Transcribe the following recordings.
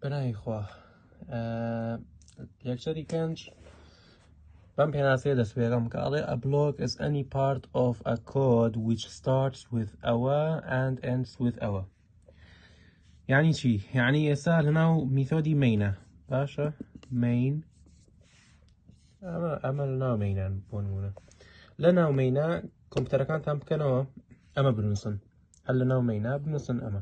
بەناوی خوا لێکچەری پێنج بەم پێناسەیە دەست پێەکەم کە ئەڵێ a block is any part of a code which starts with ئەوە and ends with ئەوە یعنی چی یعنی ئێستا لەناو میتۆدی مینە باشە مین ئەمە ئەمە لەناو مینان بۆ نمونە لە ناو مینا کۆمپیوتەرەکانتان بکەنەوە ئەمە بنووسن هەر لە ناو مینا بنووسن ئەمە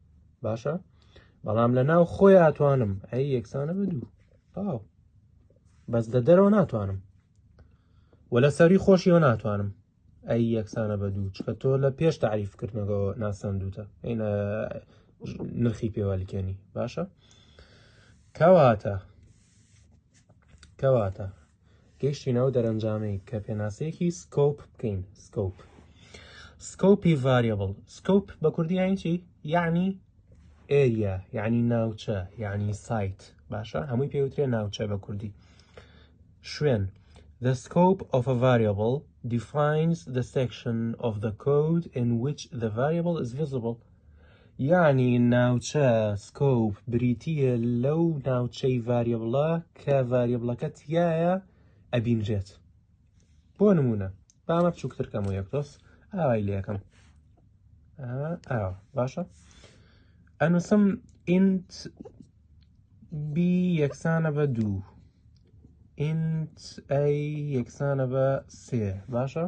باشە بەڵام لە ناو خۆی ئاتوانم ئەی یەکسانە بە دوو تاو بەس لە دەرەوە ناتوانم و لە سەری خۆشیەوە ناتوانم ئەی یەکسانە بە دوو چکە تۆ لە پێش تعریفکردنەوە ناسەندوتە ئەینە نرخی پێوەلکێنی باشە کەواتە کەواتە گەیشتینە ئەو دەرەنجامەی کە پێناسەیەکی سکۆپ بکەین سکۆپ سکۆپی ڤاریبل سکۆپ بە کوردی یانی چی یعنی ئێریا یعنی ناوچە یعنی سایت باشە هەمووی پێوترێ ناوچە بە کوردی شوێن The scope of a variable defines the section of the code in which the variable is visible. یانی ناوچە سکۆپ بریتیە لەو ناوچەی ڤاریبڵە کە ڤاریبڵەکە تایە ئەبینرێت بۆ نمونە بامە بچووکترکەم و یەک دۆست ئاوای لە یەکەم باشە ئەنووسم ئینت بی یەکسانە بە دوو ئینت ئەی یەکسانە بە سێ باشە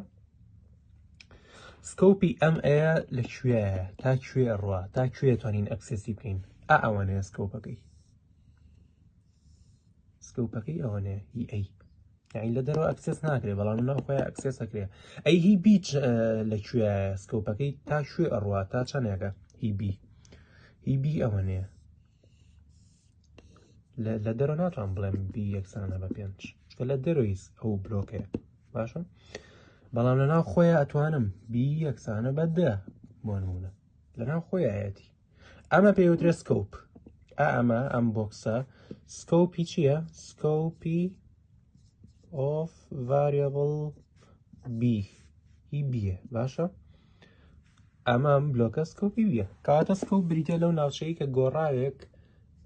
سکۆپی ئەم ئەیە لە کوێە تا کوێ ڕە تا کوێ توانین ئەکسسی بکەین ئا ئەوانەیە سکۆپەکەی سکۆپەکەی ئەوانەیە هی ئەی یعنی لە دەرەوە ئەکسس ناکرێ بەڵام ناو خۆی ئەکسس ئەکرێ ئەی هی بیچ لە کوێ سکۆپەکەی تا شوێ ئەڕوا تا چەندێکە هی بی هی بی ئەوە نێ لە دەرەوە ناتوان بڵێم بی یەکسانە بە پێنج چکە لە دەرۆیس ئەو بلۆکەیە باشە بەڵام لە ناو خۆیان ئەتوانم بی یەکسانە بە دە بۆ نمونە لە ناو خۆیەتی ئەمە پێوترێ سکۆپ ئەمە ئەم بۆکسە سکۆپی چییە سکۆپی ئۆف ڤریبل بی ئی بیە باشە ئەمە بلۆکە سکۆپی بیە کاتە سکۆپ بریتە لەو ناوچەی کە گۆڕاوێک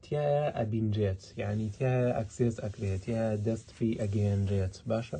تایە ئەبینرێت یعنی تایە ئەکسێس ئەکرێت یا دەست پێی ئەگەیەنرێت باشە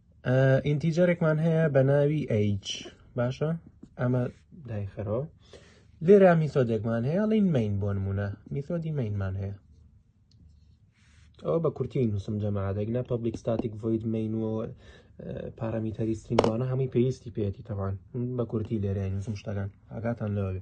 ئینتیجەرێکمان هەیە بە ناوی ئەیج باشە ئەمە دایخەرەوە لێرا میسۆدێکمان هەیە ڵین مین بۆ نمونە میسۆدی مینمان هەیە ئەوە بە کورتی نووسم جەمادەگنا پبلیک ستاتیک ڤید مین و پارەمیتەری سینگوانە هەمووی پێویستی پێێتی تەوان بە کورتی لێرە نووسم شتەکان ئاگاتان لەوەێ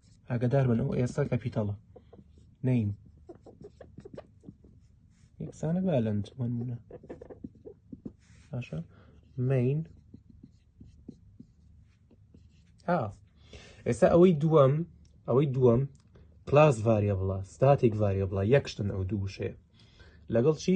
ئاگدار بن ئەو ئێستا کەپیتەڵە نین یەکسانە بالند منمونە باشە مین ها ئێستا ئەوەی دووەم ئەوەی دووەم کلاس ڤاریە بڵە ستاتیک ڤاریە بڵە یەکشتن ئەو دوو وشەیە لەگەڵ چی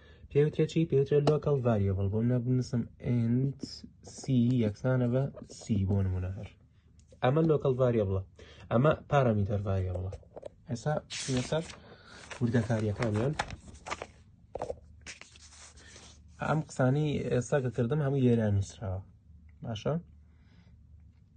پێوترێ چی پێوترێ لۆکەڵ ڤریبل بۆ منە بنووسم NC یەکسانە بە C بۆ نمونە هەر ئەمە لۆکەڵ ڤریبڵە ئەمە پارامیتەر ڤریبڵە ئێسا لەسەر وردەکاریەکانیان ئەم قسانی ئێستا کە کردم هەموو لێران نووسراوە باشە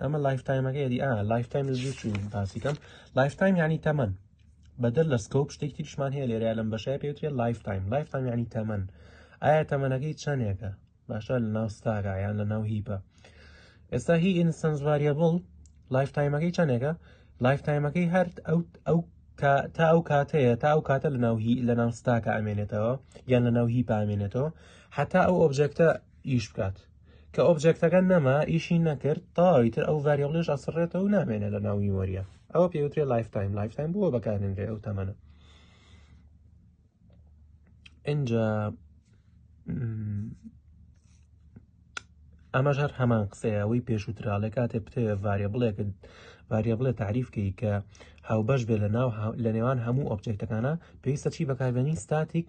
ئەمە لایف تایمەکە یدی ئا لایف تایم زوو چوو باسیکەم لایف تایم ینی تەمەن بەدەر لە سکۆپ شتێک تریشمان هەیە لێرە لەم بەشای پێوترێ لایف تایم لایف تایم ینی تەمەن ئایا تەمەنەکەی چەندێکە باشە لە ناو ستاگا یان لە ناو هیپە ئێستا هی ئینسنس واریبڵ لایف تایمەکەی چەندێکە لایف تایمەکەی هەر ئەو ئەو تا ئەو کاتەیە تا ئەو کاتە لە ناوهی لە ناو ستاکە ئەمێنێتەوە یان لە ناو هی پامێنێتەوە حتا ئەو ئۆبجێکتە ئیش بکات کە ئۆبجێکتەکە نەما ئیشی نەکرد تەواوی تر ئەو ڤریبلش ئەسڕێتەوە و نامێنێ لە ناو میمۆریە ئەوە پێوترێ لایف تایم لایف تایم بووە بەکارێنرێ ئەو تەمەە اینجا ئەمەش هەر هەمان قسەیەوەی پێشووترا لە کاتێ بتەوێت ڤارێ بڵێک ڤارێ بڵێ تعریفکەی کە هاوبەش بێ لە ناو لە نێوان هەموو ئۆبجێکتەکانە پێویستە چی بەکاربێنی ستاتیک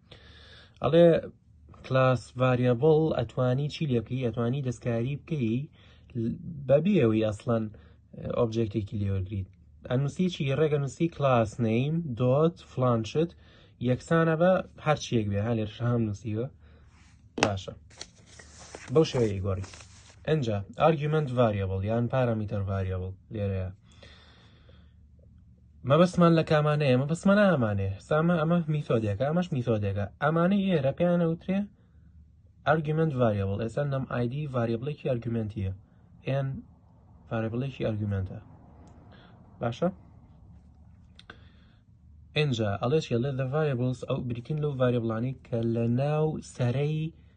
ئەڵێ کلاس ڤریبڵ ئەتوانی چی لێ بکەی ئەتوانی دەستکاری بکەی بەبیەوەی ئەسڵەن ئۆبجێکتێکی لێوەگریت ئەنووسی چی ڕێگە نووسی کلاس نیم دۆت فلانشت یەکسانە بە هەرچیەک بێ هەلێر شام نووسیوە باشە بەو شێوەیە گۆڕی ئەجا ئارگومنت ڤریبڵ یان پارەمیتەر ڤریبڵ لێرەیە مەبەستمان لە کامانەیە مەبەستمانە ئامانێ سامە ئەمە میتۆدێکە ئەمەش میتۆدێکە ئەمانەی ئێرە پێیانە وترێ ئەرگومنت ڤریبل ئێستا نەم ئایدی ڤریبلێکی ئەرگومنتیە ئێن ڤریبلێکی ئەرگومنتە باشە ئێنجا ئەڵێ چێ لێ دە ڤریبلس ئەو بریتین لەو ڤریبلانی کە لە ناو سەرەی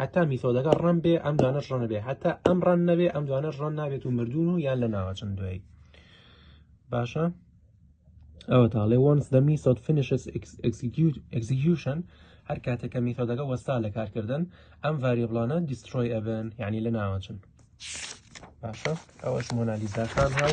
هەتا میتۆدەکە ڕەن بێ ئەم دوانەش ڕەن بێ هەتا ئەم ڕەن نەبێ ئەم دوانەش ڕەن نابێت و مردون و یان لە ناوەچن دوایی باشە ئەوە تاڵێ وەنس دە میسۆد فینشس ئەکسیکیوشن هەر کاتێکە میتۆدەکە وەستا لە کارکردن ئەم ڤریبلانە دیسترۆی ئەبن یعنی لە ناوەچن باشە ئەوەش مۆنالیزاکان هاو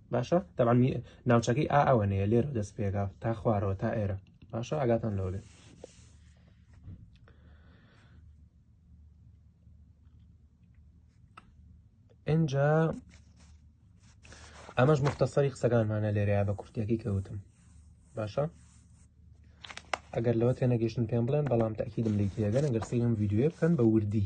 باشە تەبان ناوچەکەی ئا ئەوەنەیە لێرە دەست پێگا تا خوارەوە تا ئێرە باشە ئاگاتان لەوە بێت ئەجا ئەمەش مختەسەری قسەکانمانە لێرەیە بە کورتەکەی کەوتم باشە ئەگەر لەوە تێ نەگەشتن پێم بڵێن بەڵام تاکیدم لی تێگەن ئەگەر سیم یددیوێ بکەن بە وردی